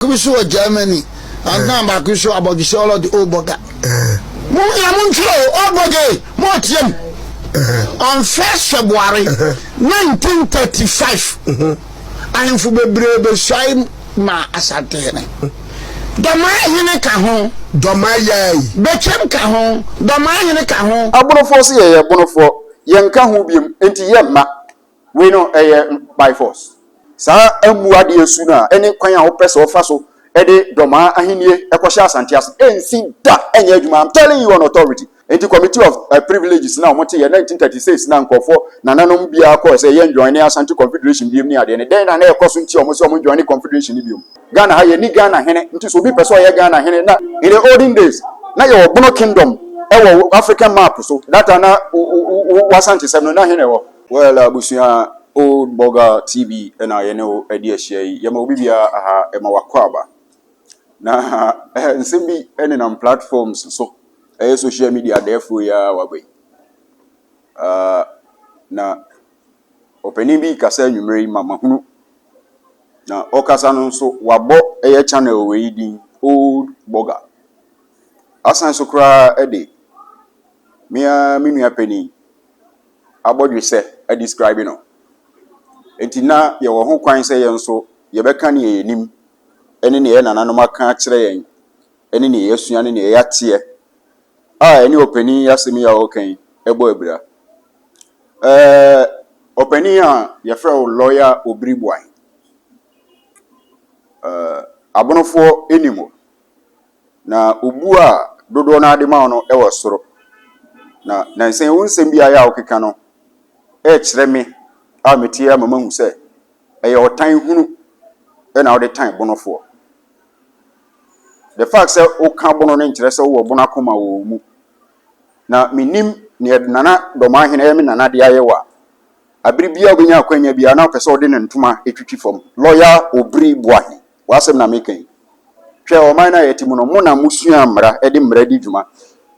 baako bi so wɔ Germany, anaa baako bi so abɔdwesɛ ɔlɔdi ɔbɔga. Mo nua mo nkyerɛ o, ɔbɔga e, mo ɔteɛ mu. Unfair February 1935, ahemfo bebree besuae maa Asantehene. Dɔmaa hene ka ho. Dɔmaa Yai. Betwam ka ho. Dɔmaa hene ka ho. Abonofoɔ se yɛyɛ bonofoɔ, yɛnka ho biom, enti yɛmma. Wei no ɛyɛ by force. Saa ammu adeɛ su no a ɛne kwan a wopɛ sɛ wɔfa so de Dɔmaa ahennie kɔhyɛ Asante ase ɛnsi da ɛnyɛ adwuma I'm telling you on authority. Enti committee of privileges no a wɔte yɛ 1936 no a nkurɔfoɔ nananom biara kɔɔ sɛ yɛn join ne Asante Confederation biom ne adeɛ no dɛn na na ɛkɔ so nti a wɔn sɛ wɔn join Confederation no biom? Ghana ha yɛnni Ghana hene nti sɛ obi pɛ sɛ ɔyɛ Ghana hene na In the olden days na yɛwɔ Bono kingdom ɛwɔ African map so that time na wo wo wo Asante sɛm no na he na ɛwɔ. Well abusua old burger TV na yɛne wo adi ahyia yi yɛma obi biara aha ɛma wakɔ aba na eh, nsɛm bi nenam platforms so ɛyɛ social media dɛɛfoɔ yi ara waba yi uh, na ɔpanin bi kasa anwummerɛ yi ma mahunu na ɔkasa no nso wabɔ ɛyɛ channel wɔ yi din old burger asan so koraa ɛde mea me nua panin abɔdwe sɛ a describe no. Enti na yɛwɔ ho kwan sɛ yɛn nso yɛbɛka nea yɛnim ne nea yɛn nananom aka akyerɛ yɛn ne nea yɛasua ne nea yɛateɛ a ɛne ɔpanin yi asɛm yi a ɔreka yi ɛbɔ abira. Ɛɛ ɔpanin a yɛfrɛ wo lɔya obiribuan. Ɛɛ abonofoɔ anim hɔ. Na obu a dodoɔ no ara de ma wo no wɔ soro. Na nansa yi wo nsɛm bi ayɛ a wokeka no ɛrekyerɛ me a meteɛ ama mahu sɛ ɛyɛ ɔtan hunu na wode tan bonofoɔ. The fact sɛ woka bono no nkyerɛ sɛ wowɔ bono akoma wɔ wo mu. Na menim neɛ Nana Dɔmahene ɛyɛ me nana de ayɛ wo a, abere biara wobɛnya akwanya biara na wopɛ sɛ wode ne ntoma twitwi fam. Lawyer Obiri Boahen. W'asɛm na meka yi. Hwɛ ɔman no a yɛte mu no, mo na musuaa mmara de mmara di dwuma.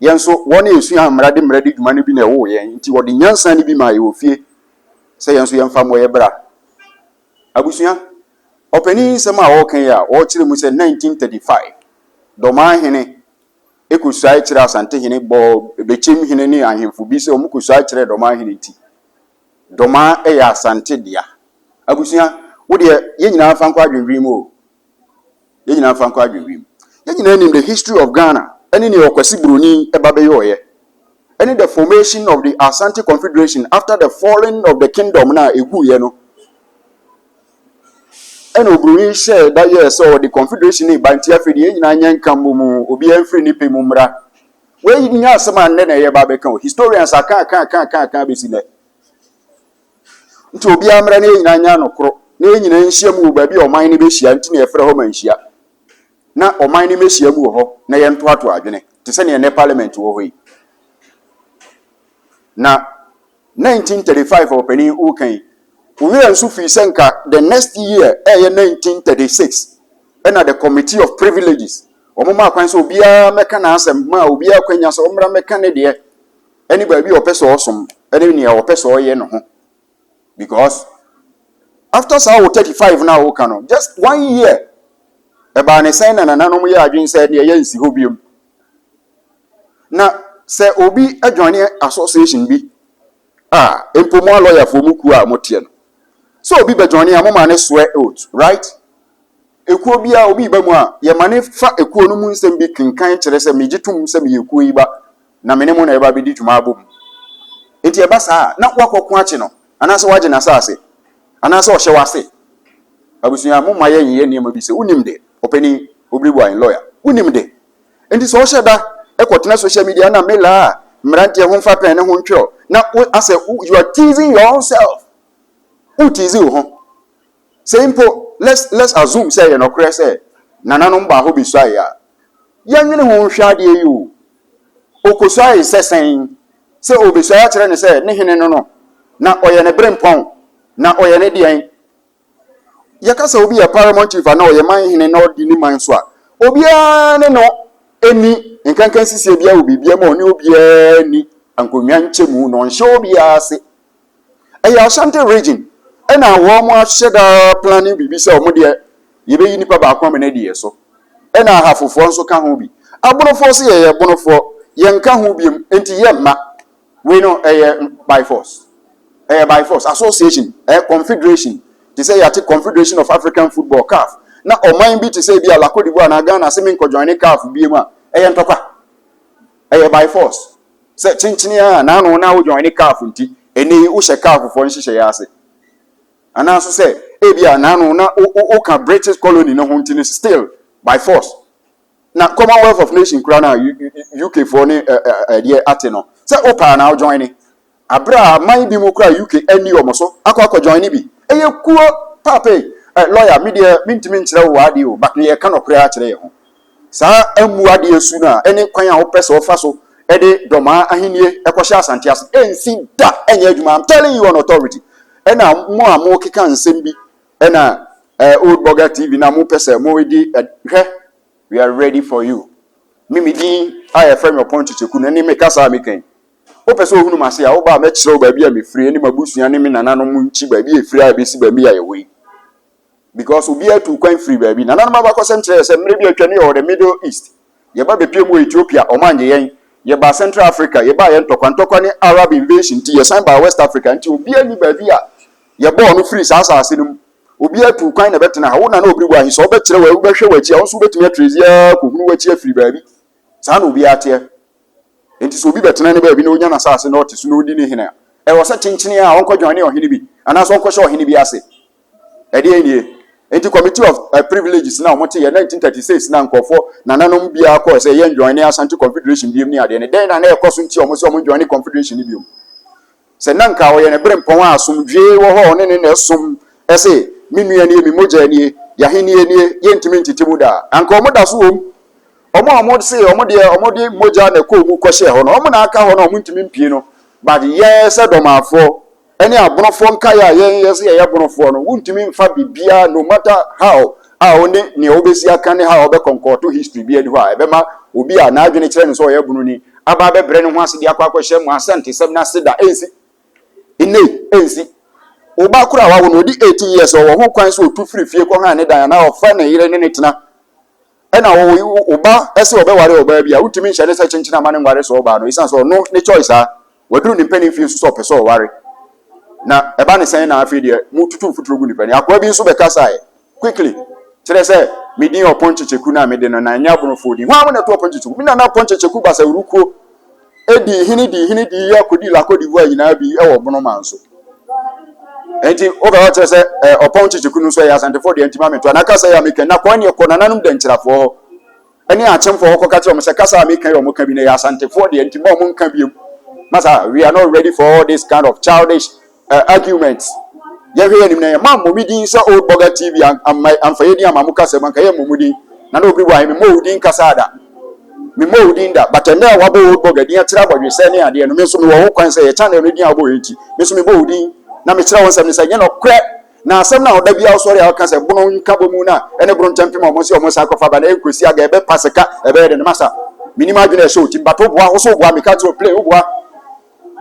Yɛn nso, wɔn a yesuaa mmara de mmara di dwuma no bi na ɛwoo yɛn, enti wɔde nyansa no bi maa yɛn wɔ fie sɛ yɛn nso yɛmfa mmɔ yɛn bra. Abusua, ɔpanyin yi nsɛm a ɔreka yi a ɔrekyerɛ mu sɛ 1935 Dɔmaa hene kosuae kyerɛɛ Asante hene, bɔɔ Bekyem hene ne ahemfo bi sɛ wɔkɔsuae kyerɛɛ Dɔmaa hene nti, Domaa yɛ Asante dea. Abusua, wo deɛ, yɛn nyinaa mfa nkɔ adwendwene mu o. Yɛn nyinaa mfa nkɔ adwendwene mu. Yɛn nyinaa nim the history of Ghana ɛne nea Ɔkwasi Buroni ba bɛyɔeɛ ɛne the formation of the Asante Confederation after the falling of the kingdom no a ɛguiɛ no. Ɛna Oburoni hyɛɛ da yɛɛ sɛ ɔde Confederation no reba nti afei deɛ yɛn nyinaa nyɛ nka mmɔ mu, obiara mfiri ne pɛ mu mmra Wei nyɛ asɛm a nnɛ na yɛba abɛka o. Historians aka aka aka aka aka abɛsi nnɛ. Nti obiara mmra na yɛn nyinaa nyɛ anokoro na yɛn nyinaa nhyia mu wɔ baabi a ɔman no bɛhyia nti na yɛfrɛ hɔ ma nhyia na ɔman no mmɛhyia mu wɔ hɔ na yɛntoatoa adwene te sɛ nea nnɛ parliament wɔ hɔ yi na 1935 ɔpanin wo kan yi wo werɛ nso fii sɛ nka the next year ɛyɛ 1936 ɛna the committee of privileges wɔn maa kwan sɛ obiara mɛka n'asɛm maa obiara kwanya sɛ ɔmmra mɛka ne deɛ ɛne baabi a ɔpɛ sɛ ɔsom ɛne nea ɔpɛ sɛ ɔyɛ no ho because after saa wo 35 no a woka no just one year ɛbaa ne sɛn na nananom yɛ adwene sɛ deɛ yɛnsi hɔ biom Na sɛ obi adwane association bi a, mpo mo alɔyafoɔ mo kuo a moteɛ no, sɛ obi bɛdwane a moma ne swear oath, right? Ekuo biara obi ba mu a, yɛma ne fa ekuo no mu nsɛm bi kenkan kyerɛ sɛ megye tom sɛ meyɛ kuo yi ba na me ne mo na ɛba bɛdi dwuma abom. Enti ɛba saa a, na woakɔko akye no anaasɛ woagye n'asase anaasɛ ɔhyɛ w'ase. Abusua, momma yɛnyeyɛ nneɛma bi sɛ wonim deɛ. Ɔpanin, Obiliboa yɛn lɔya. Wonim de. Enti sɛ ɔhyɛ da kɔtena social media na Mela a mmeranteɛ ho mfa pɛn ne ho ntwerɛ na wo asɛ you are teasing your own self. Wo tease wo ho. Sɛ mpo let's let's assume sɛ ɛyɛ nɔkorɛ sɛ nananom baa hɔ bɛsuaeɛ a, yɛnwene ho nhwɛ adeɛ yi o. Ɔkɔsuaeɛ sɛ sɛn? Sɛ ɔbɛsuaeɛ akyerɛ no sɛ ne hene no no, na ɔyɛ ne berempɔn, na ɔyɛ ne deɛn? yɛka sɛ obi yɛ paramount chief anaa ɔyɛ man hene na ɔdi ne man so a obiara ne no ɛni nkankan sisi biara wɔ biribiara mu a ɔne obiara ni nkonnwa nkyɛmu na ɔnhyɛ obiara ase ɛyɛ ashanti region ɛna wɔn ahyɛ daa planning biribi sɛ wɔn deɛ yɛbɛyi nipa baako ama no adi yɛ so ɛna ahafofoɔ nso ka ho bi abonofoɔ so yɛyɛ bonofoɔ yɛnka ho biom nti yɛ mma Wei no ɛyɛ by force. Ɛyɛ by force. Association, ɛyɛ confederation. Te sɛ yɛate Confederation of African Football, CAF. Na ɔman bi te sɛ bi a La Cote d'Ivoire anaa Ghana se menkɔ joine CAF biom a, ɛyɛ ntɔkwa. Ɛyɛ by force. Sɛ kyenkyene ara na ano na wo joine CAF nti, ɛnɛ yi wohyɛ CAF foɔ nhyehyɛeɛ ase. Anaa nso sɛ ebi a na ano na woka British colony no ho nti no still by force. Na Commonwealth of Nation kura no a UK foɔ ne ɛdeɛ ate no sɛ wo paa na wo join ne aberɛ a man bi mu kura UK ɛni wɔn so akɔ akɔ join ne bi ɛyɛ kuo paapei ɛ lawyer me deɛ me ntumi nkyerɛ wo w'adeɛ o but yɛ ka nɔkorɛ akyerɛ yɛ ho saa amu adeɛ su no a ɛne kwan a wopɛ sɛ ɔfa so ɛde dɔmaa ahennie ɛkɔhyɛ asante ase ɛnsi da ɛnyɛ adwuma I'm telling you on authority ɛna mo a mo keka nsɛm bi ɛna ɛɛ eh, old burger tv na mo pɛ sɛ mo di hwɛ we are ready for you me me din a yɛfrɛ me ɔpɔn kyekyɛku no ne me kasa a mekɛn wopɛ sɛ ohunu m'ase a woba a mɛkyerɛ wo baabi a mefiri ne m'abusua ne me nananom nkyi baabi a ɛfiri a ɛbɛsi baabi a yɛwɔ yi because obiara tu kwan firi baabi nananom abakɔsɛm kyerɛ sɛ mmerɛ bi atwa ne yɛwɔ the middle east Yɛba bepiam wɔ Ethiopia, ɔmo angye yɛn. Yɛbaa Central Africa, yɛbaa yɛ ntɔkwa ntɔkwa ne Arab invasion nti yɛsan baa West Africa nti obiaa nni baabi a yɛbɔɔ no firii saa asaase no mu. Obiaa tuu kwan na ɛbɛtena ha. Wo Nana Obirigu ahe sɛ ɔbɛkyerɛ wo a wobɛhwɛ w'akyi a wo nso wobɛtumi atrezi ara kɔhunu w'akyi afiri baabi. Saa na obiaa teɛ. Nti sɛ obi bɛtena ne baabi na ɔnya n'asaase na ɔte so na ɔdi ne hene a, ɛwɔ sɛ kyenkyenee ara ɔnkɔdwane ɔhene bi anaasɛ ɔnkɔhyɛ ɔhene bi ase. Ɛdeɛn nie? Enti Committee of eh, Privileges na wɔte yɛ 1936 na nkurɔfoɔ nananom biara kɔɔ sɛ yɛn join ne Asante Confederation biom ne adeɛ no. Dɛn na na ɛkɔ so nti a wɔn sɛ wɔn join ne Confederation no biom? Sɛ na nka ɔyɛ ne bere mpɔn a asomdwie wɔ hɔ a ɔne ne na ɛsom ɛse me nua nie, me mogya nie, yɛahennie nie, yɛntumi ntete mu da a, anka wɔn da so wɔ mu. Wɔn a wɔn se wɔn deɛ wɔn de mogya na ɛkɔɔ mu kɔhyɛɛ hɔ no, wɔn na aka hɔ na wɔn ntumi mpie no. But yɛn sɛ dɔmaafoɔ, ɛne abonofoɔ nkaeɛ a yɛn yɛ sɛ yɛyɛ abonofoɔ no wontumi mfa biribiara no matter how a wo ne nea wobɛsi aka ne how a wobɛkɔnkɔɔto history bi adi hɔ a ɛbɛma obi a n'adwene kyerɛ no sɛ ɔyɛ abononi aba abɛbrɛ ne ho ase de akɔ akɔhyɛ mo asantesɛm no ase da ɛnsi nnɛ ɛnsi wo ba koro a wawo no ɔdi 18 years ɔwɔ ho kwan sɛ ɔtu firi fie kɔ ha ne dan anaa ɔfa ne yere ne ne tena ɛna wo wo ba ɛsɛ ɔbɛware ɔbaa bi a wontumi nhyɛ ne sɛ kyenkyen ama ne nware sɛ ɔbaa no ɛsiane sɛ ɔno ne choice a waduru ne mpanin fie nso sɛ ɔpɛ sɛ ɔware na ɛba ne sɛn na afei deɛ mo tutu mfuturo gu nipa ni akoa bi nso bɛkasaeɛ quickly kyerɛ sɛ medin ɔpɔn kyekyeku no a mede no na ɛnyɛ aborofoɔ din hwan mo na ɛto ɔpɔn kyekyeku me nana ɔpɔn kyekyeku basawurukuo dii hene dii hene dii yɛ kɔdii la Côte d'Ivoire nyinaa bi wɔ bono man so nti wobɛ hɔ kyerɛ sɛ ɔpɔn kyekyeku no nso ɛyɛ asantefoɔ deɛ nti ma metoa na kasa yɛ meka na kɔn neɛ kɔ nananom dankyirafoɔ hɔ ɛne akyemfoɔ hɔ kɔka kyerɛ wɔn sɛ kasa a meka yɛ wɔn ka bi na ɛyɛ asantefoɔ deɛ nti ma wɔn nka biem masa we are not ready for all this kind of childish eh, argument. Yɛhwɛ yɛn anim na yɛn ma mmɔ me din sɛ old burger TV amma amfa yɛ din amma mo kasa mu anka yɛ mmɔ mo din. Na na obi wɔ ahe me mmɔ wo din kasa da. Me mmɔ wo din da. But ɛnna a wabɔ old burger din akyerɛ abɔdwesɛ ne adeɛ no me nso mewɔ ho kwan sɛ yɛ channel no din a wabɔ yɛ nti me nso mebɔ wo din na mekyerɛ wo nsɛm no sɛ nyɛ nɔkorɛ na asɛm no a ɔda biara sɔre a ɔka sɛ bono nka bɔ mu no a ɛne bono ntɛmpem a ɔmo sɛ ɔmo san kɔfa ba na ɛnkɔsi aga ɛbɛpa sika ɛbɛyɛ de no masa menim adwene a ɛhyɛ wo tim but woboa wo so woboa meka kyerɛ wo play woboa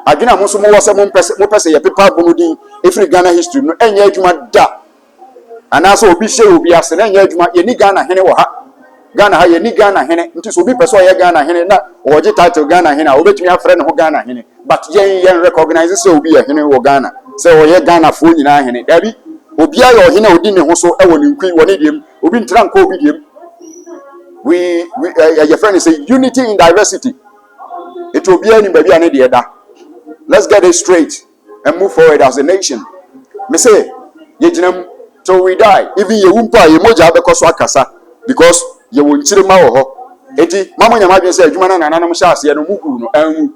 Adwene a mo nso mowɔ sɛ mompɛ sɛ mopɛ sɛ yɛpepa abu no din firi Ghana history mu no ɛnyɛ adwuma da. Anaasɛ obi hyɛ obi ase no ɛnyɛ adwuma. Yɛnni Ghana hene wɔ ha. Ghana ha yɛnni Ghana hene. Nti sɛ obi pɛ sɛ ɔyɛ Ghana hene na ɔgye title Ghana hene a ɔbɛtumi afrɛ ne ho Ghana hene. But yɛn yɛn recognize sɛ obi yɛ hene wɔ Ghana. Sɛ ɔyɛ Ghanafoɔ nyinaa hene. Daabi. Obiara yɛ ɔhene a ɔdi ne ho so wɔ ne nkui wɔ ne deɛ mu. Obi ntra nkɔ obi deɛ mu. We, we, eh, eh, yɛfrɛ no sɛ unity in diversity. Nti obiara nim baabi a ne deɛ da. Let's get it straight and move forward as a nation. Me se yɛgyina mu till we die even yɛwu mpo a yɛn mogya bɛkɔ so akasa because yɛwɔ nkyirima wɔ hɔ. Nti ma monyɛ mo adwene sɛ adwuma no a nananom hyɛ aseɛ no moguu no anwu.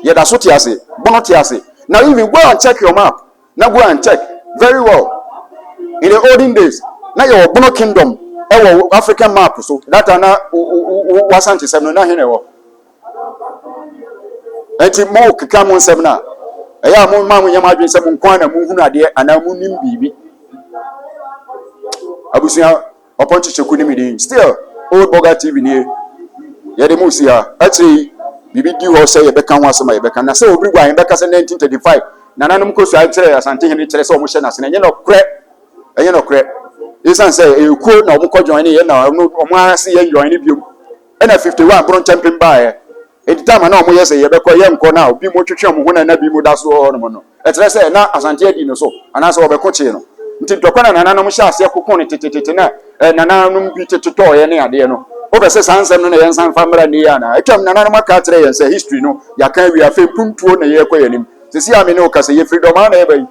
Yɛda so te ase, bono te ase. Now even go and check your map. Na go and check very well in the olden days na yɛwɔ bono kingdom ɛwɔ african map so that time na wasantesɛm no na he na ɛwɔ nti mo keka mo nsɛm no a ɛyɛ a mo ma mo nyɛ mo adwene sɛ mo nko na mo hunu adeɛ anaa mo nim biribi abusua Ɔpɔn Kyekyɛku ne me din. Still, Old Burger TV nie. Yɛde mo si ha. Akyire yi, biribi di hɔ sɛ yɛbɛka ho asɛm a yɛbɛka. Na sɛ obiri gu a, yɛn bɛka sɛ 1935 nananom kɔsuae kyerɛɛ Asantehene kyerɛ sɛ wɔn hyɛ n'ase. Na ɛnyɛ nɔkorɛ. Ɛnyɛ nɔkorɛ. Esiane sɛ ɛyɛ kuo na wɔn kɔ joine yɛ na wɔn ara se yɛn joine biom. Ɛna 51 Bono Nkyɛmpem baeɛ. Enti time a na wɔyɛ sɛ yɛbɛkɔ yɛnkɔ no a obi mu twetwe wɔn ho na na bi mu da so wɔ hɔnom no, ɛkyerɛ sɛ na Asante adi no so anaasɛ wɔbɛko kyee no. Nti ntɔkwa na nananom hyɛɛ aseɛ koko no tetetete na eh, nananom bi te totɔɔeɛ ne adeɛ no. Wopɛ sɛ saa nsɛm no na yɛnsan fa mmra nnɛ yi anaa? Atwam nananom aka akyerɛ yɛn sɛ history no yɛaka awie afei mpuntuo na yɛrekɔ yɛn anim. Sisi a me ne wo kasa yɛfiri Dɔmaa na yɛba yi.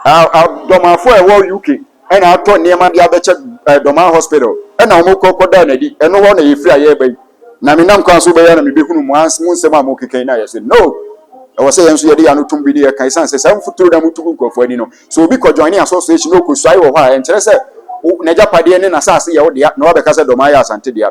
Dɔmaafo a ɛwɔ UK ɛna atɔ nneɛma de abɛkyɛ eh, Dɔmaa Hospital, ɛna wɔn kɔ kɔdaa n'adi, ɛno hɔ na yɛfiri a yɛreba yi, na menam kwan so bɛyɛ na mebɛhunu mo ans mo nsɛm a mokeka yi na yɛ sɛ no, ɛwɔ sɛ yɛn nso yɛde yɛn ano tom bi ne yɛka ɛsiane sɛ saa mfuturo na motu gu nkurɔfoɔ ani no, so obi kɔjoine association na ɔkɔsuae wɔ hɔ a, ɛnkyerɛ sɛ n'agyapadeɛ ne n'asase yɛ wo dea na wabɛka sɛ Dɔmaa yɛ Asante dea.